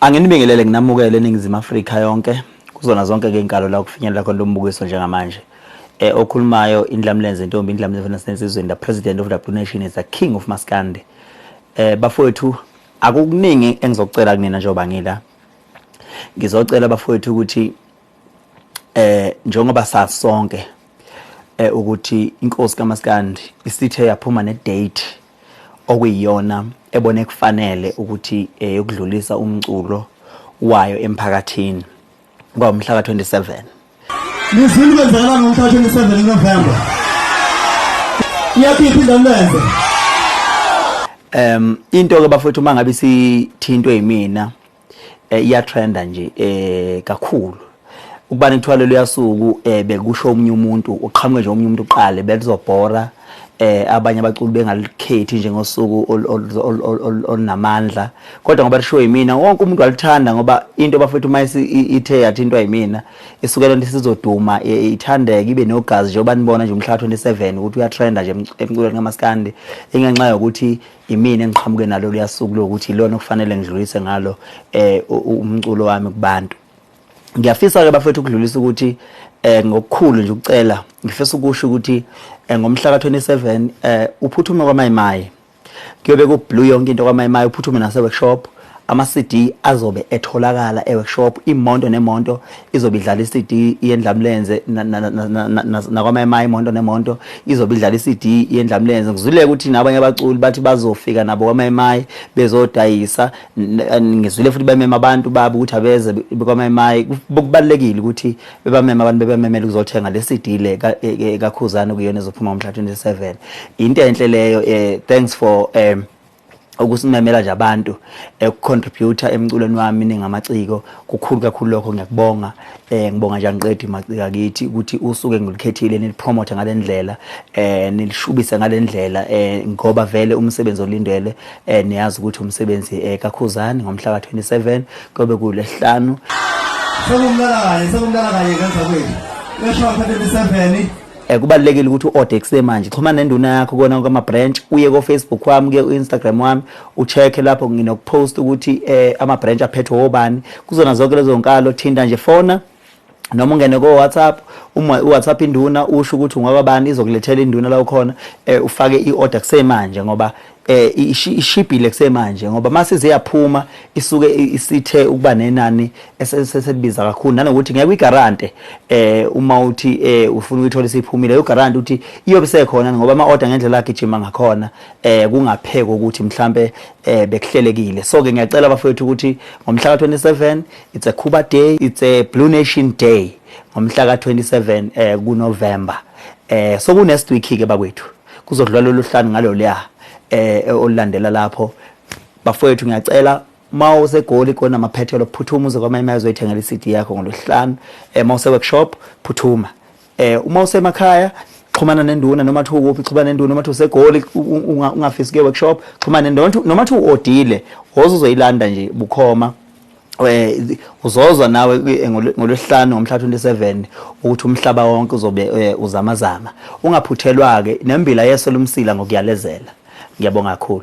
Anginibingelele nginamukele eNingizimu Afrika yonke kuzona zonke ke inkalo la kufinyelela khona lo mbukiso njengamanje eh okhulumayo indlamlenze intombi indlamlenze nasensizweni the president of the nation is the king of maskandi eh bafowethu akukuningi engizocela kunina njengoba ngila ngizocela bafowethu ukuthi eh njengoba sasonke eh ukuthi inkosi kaMaskandi isithe yaphuma ne date okuyiyona ebone kufanele ukuthi eyokudlulisa eh, umculo wayo emphakathini ngomhla ka 27 Lizulu kwenzakala ngomhla 27 November Iyaphipha indondenze Um into ke bafowethu mangabe sithintwe yimina eh, iyatrenda nje eh kakhulu ukubana kuthiwa lelo yasuku eh bekusho omunye umuntu uqhamuke nje omunye umuntu uqale belizobhora eh abanye abaculi bengalikhethi njengosuku olunamandla kodwa ngoba lishiwo yimina wonke umuntu walithanda ngoba into bafethu uma ithe yathintwa yimina isuke lento sizoduma e, e, ithandeke ibe nogazi njengoba nibona nje umhlaba 27 ukuthi uyatrenda nje emculweni kamaskandi ingenxa yokuthi Yimina engiqhamuke nalo liyasuku lokuthi ilona okufanele ngidlulise ngalo eh umculo wami kubantu. Ngiyafisa ke bafethu ukudlulisa ukuthi eh ngokukhulu nje ukucela ngifisa ukusho ukuthi eh, ngomhla ka27 eh uphuthume kwaMayimayi kuyobe kublue yonke into kwaMayimayi uphuthume nase workshop Ama-CD azobe etholakala e-workshop, imonto nemonto izobe idlala i-CD yendlamlenze nakwama-MI imonto nemonto izobe idlala i-CD yendlamlenze. Ngizwile ukuthi nabanye abaculi bathi bazofika nabo kwama-MI bezodayisa. Ngizwile futhi bemema abantu babo ukuthi abeze kwama-MI. Kubalulekile ukuthi bebameme abantu bebamemele ukuzothenga le CD le kaKhuzani okuyiyona ezophuma ngomhla ka-27. Into enhle leyo. Thanks for ukusimemela nje abantu ekucontributor eh, emculweni wami ningamaciko kukhulu kakhulu lokho ngiyakubonga eh ngibonga nje angiqedi macika kithi ukuthi usuke ngilikhethile nilipromote ngalendlela eh nilishubise ngalendlela eh ngoba vele umsebenzi olindele eh niyazi ukuthi umsebenzi eh kakhuzani ngomhla ka27 kobe kulehlanu Sekumlala kanye sekumlala kanye kanjani kwethu? Lesho 27 Eh, kubalulekile ukuthi u-ode kusemanje xhumana nenduna yakho kona konke ama-branch uye kofacebook wami kuye u-instagram wami u-check-e lapho nginokupost ukuthi um eh, ama-branch aphethwe wobani kuzona zonke lezo nkalo thinta nje fona noma ungene ko-whatsapp uma u-whatsapp induna usho ukuthi ungwababani izokulethela induna la ukhona um ufake i-order kusemanje ngoba eh ishibhile kusemanje ngoba mase ziyaphuma isuke isithe ukuba nenani eseselibiza kakhulu nanokuthi ngeke uyigarante eh uma uthi eh ufuna ukuyithola isiphumile yogarante uthi iyobe sekhona ngoba ama order ngendlela agijima ngakhona eh kungapheka ukuthi mhlambe eh bekuhlelekile so ke ngiyacela bafethu ukuthi ngomhla ka27 it's a Cuba day it's a Blue Nation day ngomhla ka27 eh kuNovember eh so kunestwiki ke bakwethu kuzodlula lolu hlanu ngaloluya um olulandela lapho bafowethu ngiyacela ma usegoli kona maphethelo phuthuma uze kwamanye amazwe oyithengela i-cd yakho ngolwesihlanu um ma use-workshop phuthuma um uma usemakhaya xhumana nenduna noma thiwa ukuphi xhumana nenduna noma thiwa usegoli ungafisi kuye workshop xhumana noma thiwa odile woze uzoyilanda nje bukhoma uzozwa nawe ngolwesihlanu ngomhla 27 ukuthi umhlaba wonke uzobe uzamazama ungaphuthelwa ke nembila yeso lomsila ngokuyalezela ngiyabonga kakhulu